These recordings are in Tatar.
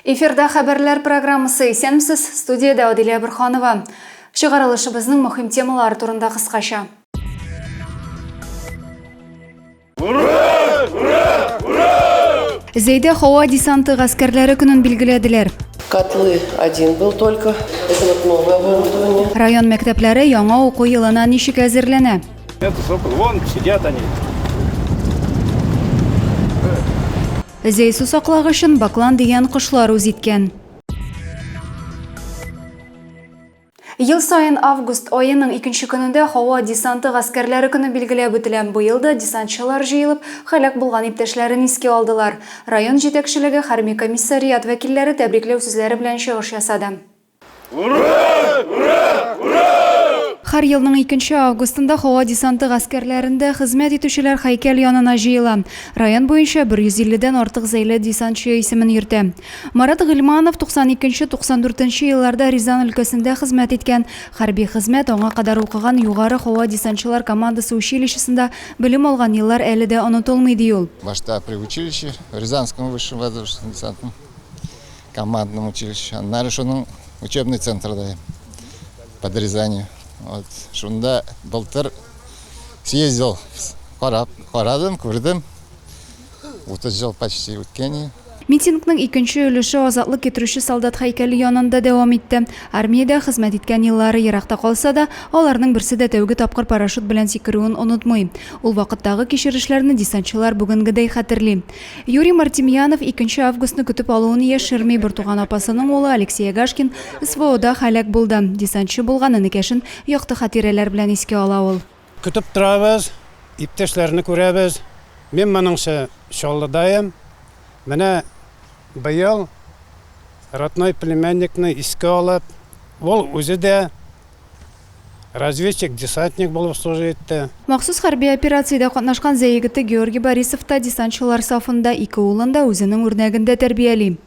Эфирда хәбәрләр программасы исәнмесез, студиядә Адилә Бөрханова. Чыгарылышыбызның мөһим темалары турында кыскача. Зәйдә һава десанты гаскәрләре көнен билгеләделәр. Котлы один был только. Это вот новое оборудование. Район мәктәпләре яңа уку елына ничек әзерләнә? Это сокол. Вон сидят они. Зәй су саклагычын баклан дигән кошлар үз иткән. Ел саен август аеның икенче көнендә Һава десанты гаскәрләре көне билгеләп үтелә. Быел да десантчылар җыелып, һәлак булган иптәшләрен искә алдылар. Район җитәкчелеге, хәрби комиссариат вәкилләре тәбрикләү сүзләре белән чыгыш ясады. Һәр елның икенче августында Һава десанты гаскәрләрендә хезмәт итүчеләр һәйкәл янына җыела. Район буенча 150 дән артык зәйле десантчы исемен йөртә. Марат Гыйльманов 92-94 нче елларда Рязан өлкәсендә хезмәт иткән. Хәрби хезмәт, аңа кадәр укыган Югары һава десантчылар командасы училищесында белем алган еллар әле дә онытылмый, ди ул. Башта при училище, Рязанском высшем воздушно-десантном командном училище, аннары шуның учебный центрда, под Рязанью. Вот шунда былтыр съездил, карап, карадым, күрдем. 30 ел почти үткәни. Митингның икенче өлеше азатлык китерүче солдат һәйкәле янында дәвам итте. Армиядә хезмәт иткән еллары еракта калса да, аларның берсе дә тәүге тапкыр парашют белән сикерүен онытмый. Ул вакыттагы кичерешләрне десантчылар бүгенгедәй хәтерли. Юрий Мартемьянов икенче августны көтеп алуын яшерми, бертуган апасының улы Алексей Агашкин СВОда һәлак булды, десантчы булган энекәшен якты хатирәләр белән искә ала ул. Көтеп торабыз, иптәшләрне күрәбез. Мин моныңчы Чаллыдайым. Менә быел родной племянникны искә алып, ул үзе дә разведчик-десантник булып служа итте. Махсус хәрби операциядә катнашкан Зәй егете Георгий Борисов та десантчылар сафында, ике улын да үзенең үрнәгендә тәрбияли.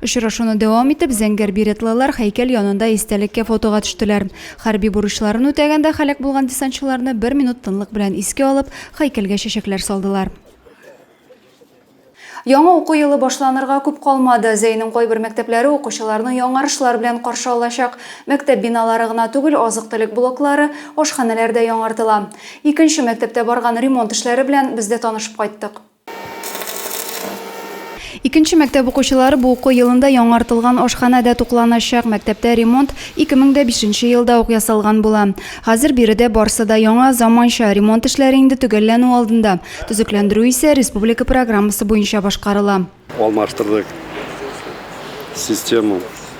Очрашуны дәвам итеп, зәңгәр беретлылар һәйкәл янында истәлеккә фотога төштеләр. Хәрби бурычларын үтәгәндә һәлак булган десантчыларны бер минут тынлык белән искә алып, һәйкәлгә чәчәкләр салдылар. Яңа уку елы башланырга күп калмады. Зәйнең кайбер мәктәпләре укучыларны яңарышлар белән каршы алачак. Мәктәп биналары гына түгел, азык-төлек блоклары, ашханәләр дә яңартыла. Икенче мәктәптә барган ремонт эшләре белән без дә танышып кайттык. Икенче мәктәп укучылары бу уку елында яңартылган ашханәдә тукланачак. Мәктәптә ремонт 2005 нче елда ук ясалган була. Хәзер биредә барсы да яңа, заманча. Ремонт эшләре инде төгәлләнү алдында. Төзекләндерү исә республика программасы буенча башкарыла. Алмаштырдык систему.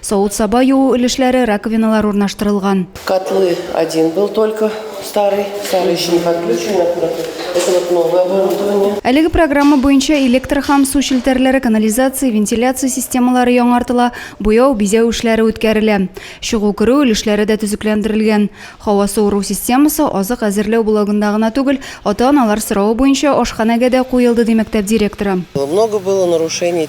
Савыт-саба юу өлешләре, раковиналар урнаштырылган. Котлы один был только старый, старый еще не подключен, это вот новое оборудование. Әлеге программа буенча электр һәм су челтәрләре, канализация, вентиляция системалары яңартыла, буяу, бизәү эшләре үткәрелә. Чыгу-керү өлешләре дә төзекләндерелгән. Һава суыру системасы азык әзерләү блогында гына түгел, ата-аналар соравы буенча ашханәгә дә куелды, ди мәктәп директоры. Много было нарушений,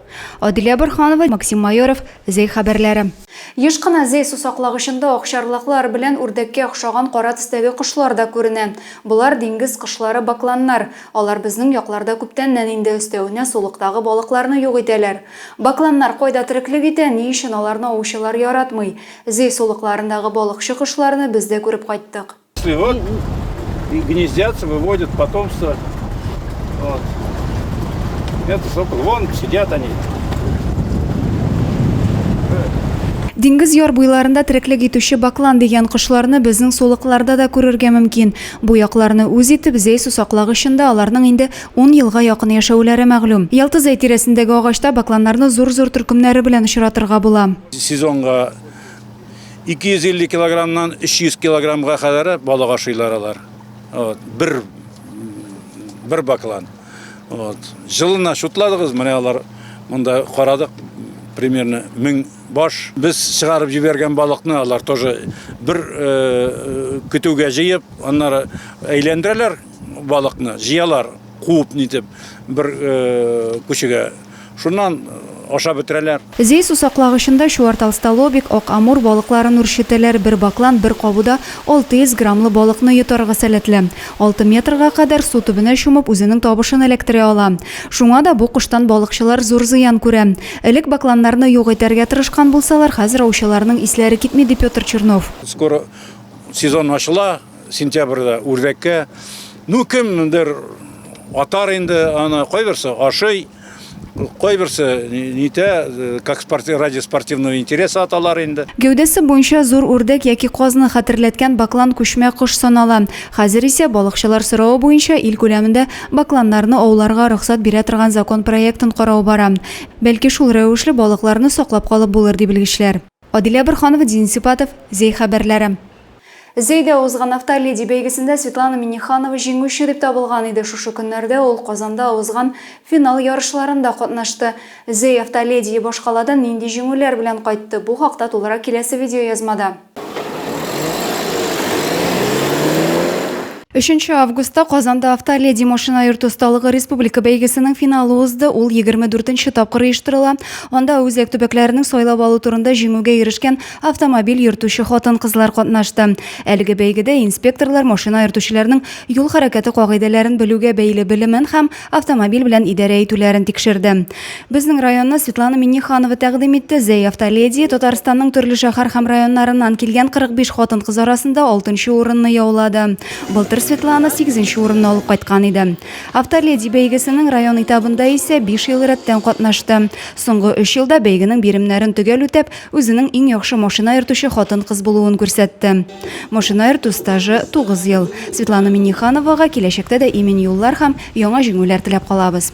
Адилә Борханова, Максим Майоров, Зәй хәбәрләре. Еш кына Зәй сусаклагычында акчарлаклар белән үрдәккә охшаган кара төстәге кошлар да күренә. Болар диңгез кошлары бакланнар. Алар безнең якларда күптәннән инде, өстәвенә сулыктагы балыкларны юк итәләр. Бакланнар кайда тереклек итә, ни өчен аларны аучылар яратмый? Зәй сулыкларындагы балыкчы кошларны без дә күреп кайттык. Вот и гнездятся, выводят потомство. Вот. Это сокол. Вон сидят они. Диңгез яр буйларында тереклек итүче баклан дигән кошларны безнең сулыкларда да күрергә мөмкин. Бу якларны үз итеп зәй сусаклагычында аларның инде 10 елга якын яшәүләре мәгълүм. Ялты зәй тирәсендәге агачта бакланнарны зур-зур төркемнәре белән очратырга була. Сезонга 250 килограммнан 300 килограммга кадәр балык ашыйлар алар. Вот, бер бер баклан. Вот. Жылына шутладыгыз, менә алар монда карадык примерно 1000 баш. Без чыгарып җибәргән балыкны алар тоже бер э, көтүгә җыеп, аннары әйләндерәләр балыкны, җыялар, куып нитеп бер э, күчегә Шуннан ашап бетерәләр. Зәй сусаклагычында чуарталстолобик, ак амур балыкларын үрчетәләр, бер баклан бер кабуда 600 граммлы балыкны йотарга сәләтле. Алты метрга кадәр су төбенә чумып, үзенең табышын эләктерә ала. Шуңа да бу коштан балыкчылар зур зыян күрә. Элек бакланнарны юк итәргә тырышкан булсалар, хәзер аучыларның исләре китми, ди Петр Чернов. Скоро сезон ачыла. сентябрьдә үрдәккә ну кемдер атар инде аны кайберсе ашый кайберсе нитә э, как спорти, ради спортивного интереса аталар инде Гәүдәсе буенча зур үрдәк яки казны хәтерләткән баклан күчмә кош санала. Хәзер исә балыкчылар соравы буенча ил күләмендә бакланнарны ауларга рөхсәт бирә торган закон проектын карау бара. Бәлки шул рәвешле балыкларны саклап калып булыр, ди белгечләр. Адилә Борханова, Дин Сипатов, Зәй хәбәрләре. Зәйдә узган Автоледи бәйгесендә Светлана Миннеханова җиңүче дип табылган иде. Шушы көннәрдә ул Казанда узган финал ярышларында катнашты. Зәй Автоледие башкаладан нинди җиңүләр белән кайтты? Бу хакта тулырак киләсе видеоязмада. Өченче августта Казанда Автоледи машина йөртү осталыгы республика бәйгесенең финалы узды. Ул егерме дүртенче тапкыр оештырыла. Анда үзәк төбәкләрнең сайлап алу турында җиңүгә ирешкән автомобиль йөртүче хатын-кызлар катнашты. Әлеге бәйгедә инспекторлар машина йөртүчеләрнең юл хәрәкәте кагыйдәләрен белүгә бәйле белемен һәм автомобиль белән идарә итүләрен тикшерде. Безнең районны Светлана Минниханова тәкъдим итте. Зәй автоледи Татарстанның төрле шәһәр һәм районнарыннан килгән 45 хатын-кыз арасында 6 урынны яулады. Былтыр Светлана 8 урынны алып кайткан иде. Автоледи бәйгесенең район этабында исә 5 ел рәттән катнашты. Соңгы 3 елда бәйгенең биремнәрен төгәл үтәп, Үзенең иң яхшы машина йөртүче хатын-кыз булуын күрсәтте. Машина йөртү стажы 9 ел. Светлана Миннихановага киләчәктә дә имин юллар һәм яңа җиңүләр теләп калабыз.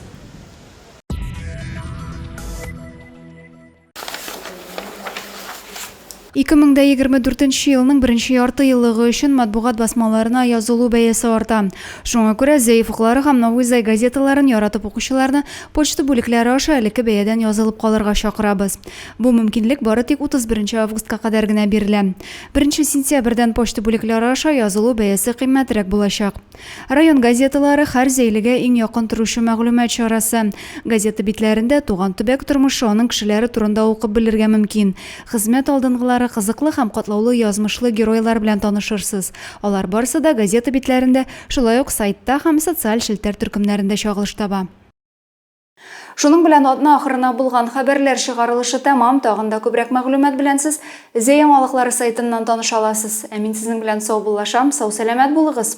Ике мең дә егерме дүртенче елның беренче ярты еллыгы өчен матбугат басмаларына язылу бәясе арта. Шуңа күрә Зәев уклары һәм Новый Зай газеталарын яратып укучыларны почта бүлекләре аша элекке бәядән язылып калырга чакырабыз. Бу мөмкинлек бары тик 31 августка кадәр генә бирелә. Беренче сентябрьдән почта бүлекләре аша язылу бәясе кыйммәтрәк булачак. Район газеталары, хәр зәйлегә иң якын торучы мәгълүмат чарасы. Газета битләрендә туган төбәк тормышы, аның кешеләре турында укып белергә мөмкин. Хезмәт алдынгылары, кызыклы һәм катлаулы язмышлы геройлар белән танышырсыз. Алар барысы да газета битләрендә, шулай ук сайтта һәм социаль челтәр төркемнәрендә чагылыш таба. Шуның белән атна ахырына булган хәбәрләр чыгарылышы тәмам, тагын да күбрәк мәгълүмат белән сез Зәй яңалыклары сайтыннан таныша аласыз. Ә мин сезнең белән саубуллашам, сау-сәламәт булыгыз!